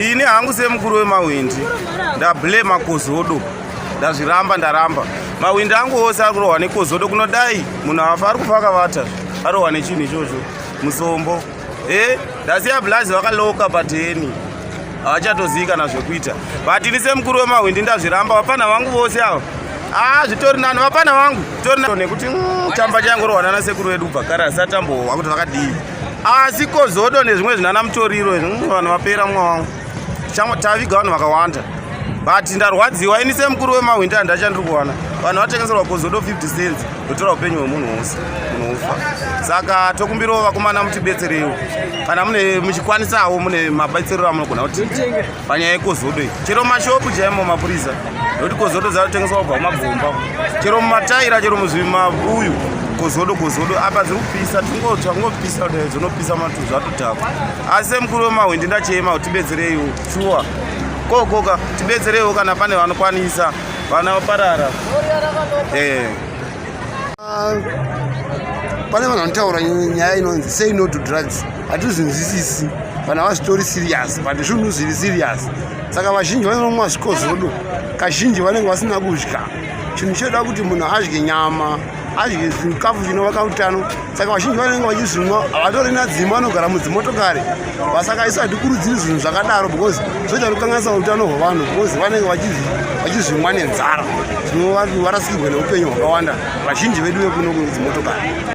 Ini hangu semukuru wemahwindi ndablema kozodo ndazviramba ndaramba mahwindi angu ose ari kurohwa nekozodo kunodai munhu afa ari kufa akavata arohwa nechinhu ichocho musombo e eh, ndasiya blazi vakaloka pateni havachatozivi kana zvekuita but ini semukuru wemahwindi ndazviramba vapfanha vangu vose ava a ah, zvitori nani vapfanha vangu zvitori nekuti mm, chamba chaingorohwanana sekuru vedu ubva kare asati ambohwa kuti vakadii asi kozodo nezvimwe zvinana mutoriro mm, vanhu vapera mumwe wangu taviga vanhu vakawanda but ndarwadziwa ini semukuru wemahwindi andachandiri kuwana vanhu vatengeserwa kozodo 50 cents ndotora upenyu hwemunhu wose unofa saka tokumbirawo vakomana mutibetserewo kana mune muchikwanisawo mune mabetserero amunogona kuti panyaya yekozodo iyi chero mashopu chaimo mapurisa nokuti kozodo dzatotengeswa kubva kumagomba chero mumataira chero muzvimabuyu kozodo kozodo apa dziri kupisa tingotsva kungopisa kudai dzonopisa matu zvatodhakwa asi semukuru wemahwindi ndachema kuti tibetsereiwo shuwa kokoka tibetsereiwo kana pane vanokwanisa vana vaparara ee eh. Ah, pane vanhu vanotaura nyaya inonzi say no to drugs hatizvinzwisisi vanhu havazvitori serious but zvunhu zviri serious saka vazhinji vanonomwa zvikozvodo kazhinji vanenge vasina kudya chinhu choda kuti munhu adye nyama adye zvikafu zvinovaka utano saka vazhinji vanenge vachizvinwa havatorina dzima vanogara mudzimotokari vasaka isu hatikurudziri zvinhu zvakadaro because zvoita kukanganisa utano hwevanhu because vanenge vachizvimwa nenzara tinova varasikirwe neupenyu hwakawanda vazhinji vedu vekuno kudzimotokari